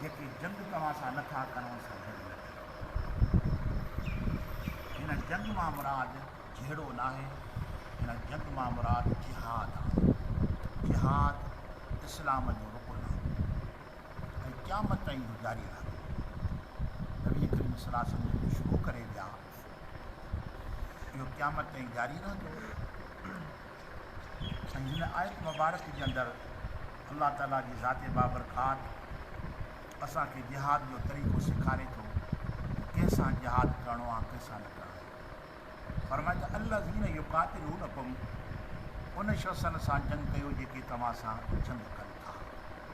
جيڪي جنگ توهان سان نه ٿا ڪرون سا جنگ نه ڪريو. هن جنگ مان مراد جهيڙو ناهي، هن جنگ مان مراد جهاد آهي. جهاد اسلام جو رڪن آهي ۽ قيامت تائين اهو جاري رهندو. نبي ڪريم صلي الله عليه وسلم جيڪو شروع ڪري ويا، اهو قيامت تائين جاري رهندو ۽ هن آيت مبارڪ جي اندر الله تعاليٰ جي ذات بابرکات اسان کي جهاد جو طريقو سيکاري ٿو ڪنهن سان جهاد ڪرڻو آهي ڪنهن سان نه ڪرڻو آهي فرمائي ته الله ذين يقات رو نقم ان شخصن سان جنگ ڪيو جيڪي توهان سان جنگ ڪن ٿا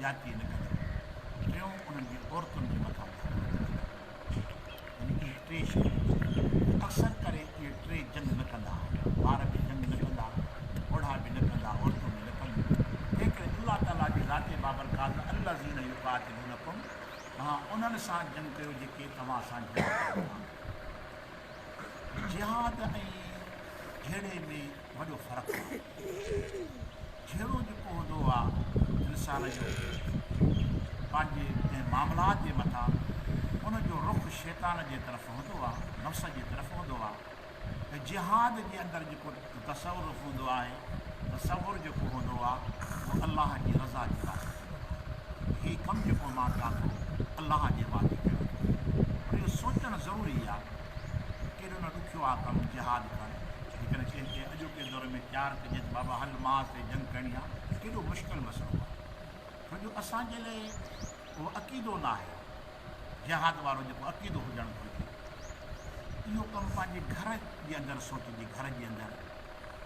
زيادتي نه ڪندڙ ۽ ٽيون انهن جي عورتن جي مٿان ڌاڪا نه ڏيندڙ يعني اهي ٽي شيون هجن اڪثر ڪري اهي ٽي جنگ نه ڪندا ٻار به جنگ نه ڪندا پوڙها به نه ڪندا عورتون به نه ڪنديون تنهنڪري الله تعالي جي ذات بابرڪات الذين يقاتلونكم توهان انهن سان جنگ ڪيو جيڪي توهان سان جنگ ڪندا جهاد ۽ جهيڙي ۾ وڏو فرق آهي. جهيڙو جيڪو هوندو آ انسان جو پنهنجي ڪنهن معاملات جي مٿان ان جو رخ شيطان جي طرف هوندو آ، نفس جي طرف هوندو آ ته جهاد جي اندر جيڪو تصرف هوندو آهي، تصور جيڪو هوندو آ اهو الله جي رضا جي واسطي هوندو آ ته هي ڪم جيڪو مان ڪيان ٿو الله جي وعدي ڪيو ويو آ پر اهو سوچڻ ضروري آ. ڪيڏو نه ڏکيو آ ڪم جهاد ڪرڻ، جيڪڏهن ڪنهن کي اڄوڪي دور ۾ تيار ڪجي ته بابا هل معاذ تي جنگ ڪرڻي آ ته ڪيڏو مشڪل مسئلو آ ڇو جو اسان جي لئه اهو عقيدو ناهي جهاد وارو جيڪو عقيدو هجڻ گهرجي اهو ڪم پنهنجي گهر جي اندر سوچجي گهر جي اندر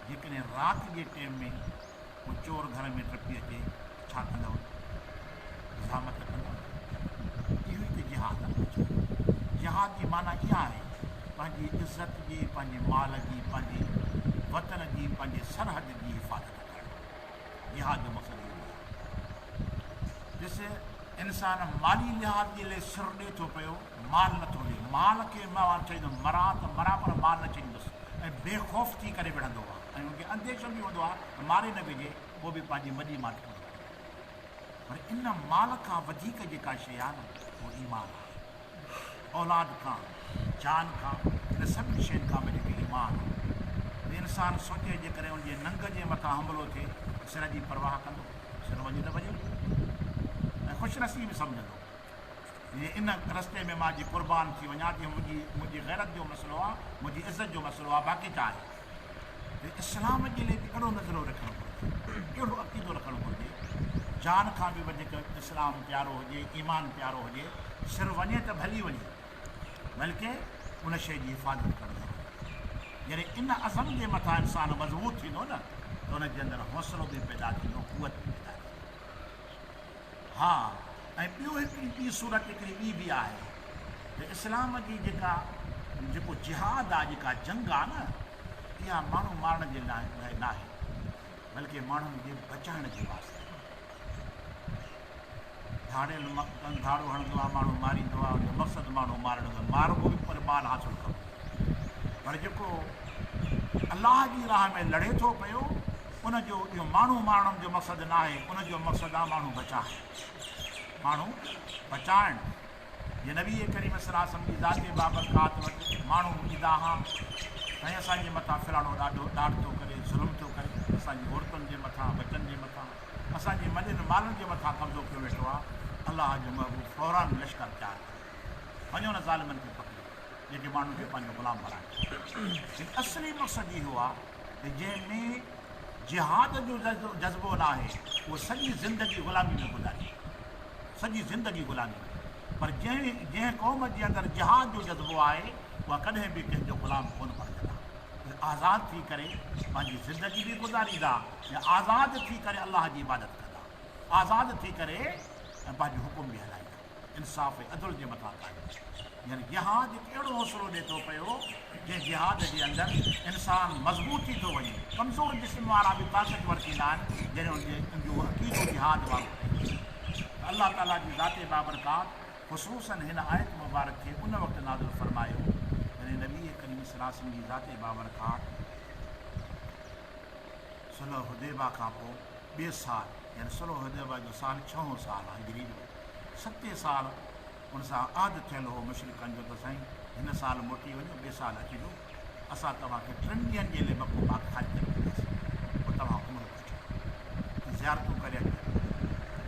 جيڪڏهن رات جي ٽيم ۾ ڪو چور گهر ۾ ٽپي اچي ته ڇا ڪندؤ؟ حجامت ته ڪندؤ نه؟ اهو ئي ته جهاد آهي بچا. جهاد جي معنيٰ اها آهي پنهنجي عزت جي، پنهنجي مال جي، پنهنجي وطن جي، پنهنجي سرحد جي حفاظت ڪرڻ. جهاد جو مقصد اهو ئي آهي. ڏس! انسان مالي لحاظ جي لئه سر ڏئي ٿو پيو. مال نه ٿو ڏي، مال کي مئو آن چئيندم، مران ته مران پر مال نه ڇڏيندس ۽ بي خوف ٿي ڪري وڙهندو آ ۽ ان کي انديشو به هوندو آ ته ماري نه وجهي پوء به پنهنجي وڏي ماٺ پوري ڪري وٺندو. پر ان مال کان وڌيڪ جيڪا شيء آ نه اهو ايمان آ. اولاد کان، جان کان، ان سڀني شين کان به جيڪي ايمان آ. ته انسان سوچي جيڪڏهن ان جي ننگ جي مٿان حملو ٿئي ته سر جي پرواهه ڪندو؟ سر وڃي ته وڃي ۽ خوش نصيب سمجهندو. ان رستي ۾ مان جي قربان ٿي وڃان ٿي منهنجي منهنجي غيرت جو مسئلو آ منهنجي عزت جو مسئلو آ باقي ڇا آهي ته اسلام جي لئي به اهڙو نظريو رکڻ گهرجي اهڙو عقيدو رکڻ گهرجي جان کان به وڌيڪ اسلام پيارو هجي ايمان پيارو هجي سر وڃي ته ڀلي وڃي بلڪه ان شي جي حفاظت ڪرڻ ضروري آهي جڏهن ان عزم جي مٿان انسان مضبوط ٿيندو نه ته ان جي اندر حوصلو به پيدا ٿيندو قوت به پيدا ٿيندي ها ۽ ٻيو هڪڙي ٻي صورت هڪڙي ٻي به آهي ته اسلام جي جيڪا جيڪو جهاد آ جيڪا جنگ آ نه اها ماڻهو مارڻ جي لاء لاء ناهي بلڪه ماڻهن جي بچائڻ جي واسطي ڌاڙيل مقتن ڌاڙو هڻندو آ ماڻهو ماريندو آ ان جو مقصد ماڻهو مارڻ جو ماربو به پر مال حاصل ڪبو پر جيڪو الله جي راهه ۾ لڙي ٿو پيو ان جو اهو ماڻهو مارڻ جو مقصد ناهي، ان جو مقصد آهي ماڻهو بچائڻ، ماڻهو بچائڻ، جي نبي ڪريم صلي الله عليه وسلم جي ذاتي بابرڪات وٽ ماڻهو اچي دانهان ۽ اسان جي مٿان ڦراڙو ڏاڍو ڏاڍ ٿو ڪري، ظلم ٿو ڪري، اسان جي عورتن جي مٿان، ٻچن جي مٿان، اسان جي مڏين مالن جي مٿان قبضو ڪيو ويٺو آهي، الله جو محبوب فورا لشڪر تيار ڪري وڃو انهن ظالمن کي پڪڙي جيڪي ماڻهن کي پنهنجو غلام بڻائين ٿا، جن اصلي مقصد اهو آهي. ته جنهن ۾ جهاد جو جذبو ناهي اهو سڄي زندگي غلامي ۾ گذاري سڄي زندگي غلامي ۾ پر جنهن جنهن قوم جي اندر جهاد جو جذبو آهي اها ڪڏهن به ڪنهن جو غلام ڪونه بڻجندا اهي آزاد ٿي ڪري پنهنجي زندگي به گذاريندا ۽ آزاد ٿي ڪري الله جي عبادت ڪندا آزاد ٿي ڪري ۽ پنهنجو حڪم به هلائيندا. انصاف ۽ عدل جي مٿان قائم آهي. يعني جهاد هڪ اهڙو حوصلو ڏئي ٿو پيو، جنهن جهاد جي اندر انسان مضبوط ٿي ٿو وڃي. ڪمزور جسم وارا به طاقتور ٿيندا آهن، جڏهن ان جي ان جو عقيدو جهاد وارو ٿئي ٿو. ته الله تعاليٰ جي ذات بابرڪات خصوصاً هن آيت مبارڪ کي ان وقت نازل فرمايو، جڏهن نبي ڪريم صلي الله عليه وسلم جي ذات بابرڪات صلح حديبه کان پوء ٻئي سال يعني صلح حديبه جو سال ڇهون سال آهي هجري جو، ستين سال ان سان عھد ٿيل ھو مشرڪن جو ته سائين ھن سال موٽي وڃو ٻئي سال اچجو اسان توھان کي ٽن ڏينھن جي لئي مڪو پاڪ حج تي موڪلياسين پوء توھان عمرو وٺي ۽ زيارتون ڪري اچجو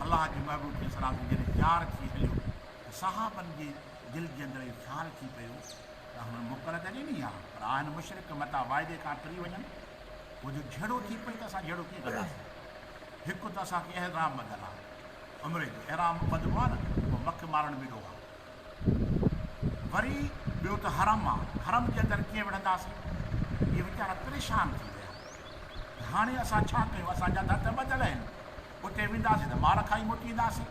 الله جي محبوب عليه السلام جڏھن تيار ٿي ھليو ته صحابن جي دل جي اندر اھو خيال ٿي پيو ته ھنن موڪل ته ڏني آ پر آ ھن مشرڪ متان واعدي کان ٽري وڃن ھو جو جھيڙو ٿي پئي ته اسان جھيڙو ڪيئن ڪنداسين ھڪ ته اسان کي احرام ٻڌل آ عمري جو احرام به ٻڌبو آهي نه پوء مک مارڻ بي ڏوهه آهي وري ٻيو ته حرم آهي حرم جي اندر ڪيئن وڙهنداسين اهي ويچارا پريشان ٿي ويا ته هاڻي اسان ڇا ڪيون اسان جا ته هٿ ٻڌل آهن اتي وينداسين ته مار کائي موٽي اينداسين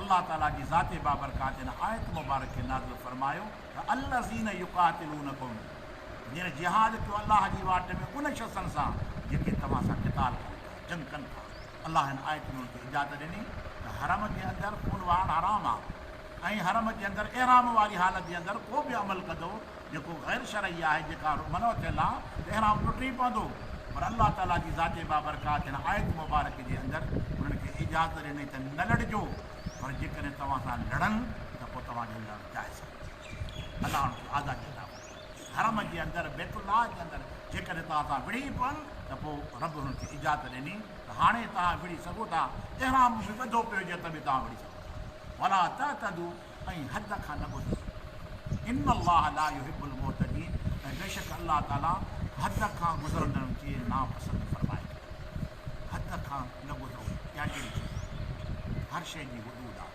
الله تعالي جي ذات بابرڪات ان آيت مبارڪ کي نازل فرمايو ته الذين يقاتلونكم جن جهاد ڪيو الله جي واٽ ۾ ان شخصن سان جيڪي توهان سان قتال ڪن ٿا جنگ ڪن ٿا الله هن آيت ۾ هتي اجازت ڏني ته حرم جي اندر خون وهڻ حرام آهي ۽ حرم جي اندر احرام واري حالت جي اندر ڪو به عمل ڪندو جيڪو غير شرعي آهي جيڪا منع ٿيل آهي ته احرام ٽٽي پوندو پر الله تعاليٰ جي ذات بابرڪات هن آيت مبارڪ جي اندر انهن کي اجازت ڏني ته نه لڙجو پر جيڪڏهن توهان سان لڙن ته پوء توهان جو لڙڻ جائز ڪونهي ٿيندو الله انهن کي آزادي عطا فرمائي. حرم جي اندر، بيت الله جي اندر، جيڪڏهن توهان اتان وڙهي پون ته پوء رب انهن کي اجازت ڏني ته هاڻي توهان وڙهي سگهو ٿا، احرام به ٻڌو پيو هجي ته به توهان وڙهي سگهو ٿا. ولا تعتدو ۽ حد کان نه گذرو. ان الله لا يحب المعتدين ۽ بيشڪ الله تعالي حد کان گذرندڙن کي ناپسند فرمائي ٿو. حد کان نه گذرو اها ڪهڙي شيء آهي؟ هر شيء جي حدود آهي.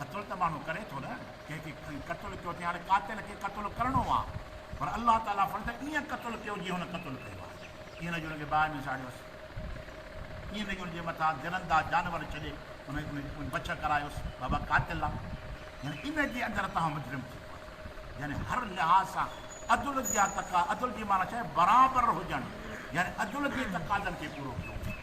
قتل ته ماڻهو ڪري ٿو نه، ڪنهن کي ڪنهن قتل ڪيو تنهن هاڻي قاتل کي قتل ڪرڻو آهي، پر الله تعاليٰ فرمائي ٿو ائين قتل ڪيو جيئن هن قتل ڪيو آهي، ائين نه جو هن کي باهه ۾ ساڙيوس، ائين نه جو هن جي مٿان درنده جانور ڇڏي ان کي بڇ ڪرايوس، بابا قاتل آهي، يعني ان جي اندر توهان مجرم ٿي پئو ٿا، يعني هر لحاظ سان عدل جا تقاضا، عدل جي معنيٰ ڇا آهي برابر هجڻ، يعني عدل جي تقاضن کي پورو ڪيو وڃي.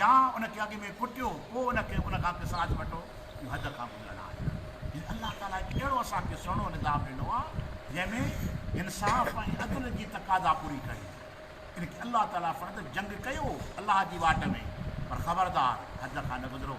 يا ان کي اڳ ۾ ڪٽيو پوء ان کي ان کان قصاص وٺو، اهو حد کان گذرڻ آهي. يعني الله تعاليٰ هڪ اهڙو اسان کي سهڻو نظام ڏنو آهي جنهن ۾ انصاف ۽ عدل جي تقاضا پوري ڪئي وئي آهي. ان کي الله تعاليٰ فرض جنگ ڪيو الله جي واٽ ۾ پر خبردار حد کان نه گذرو.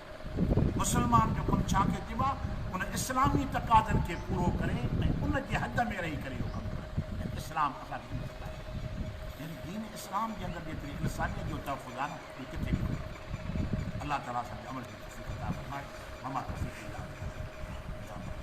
مسلمان جو ڪم ڇا کي چئبو آهي؟ ان اسلامي تقاضن کي پورو ڪري ۽ ان جي حد ۾ رهي ڪري اهو ڪم ڪرڻ ۽ اسلام اسان کي اهو سکاري ٿو. يعني دين اسلام جي اندر جيتري انسانيت جو تحفظ آهي نه اهي ڪٿي به ڪونه ملي ٿو. الله تعالي اسان کي عمل جي توفيق عطا فرمائي وما توفيقي الا بالله.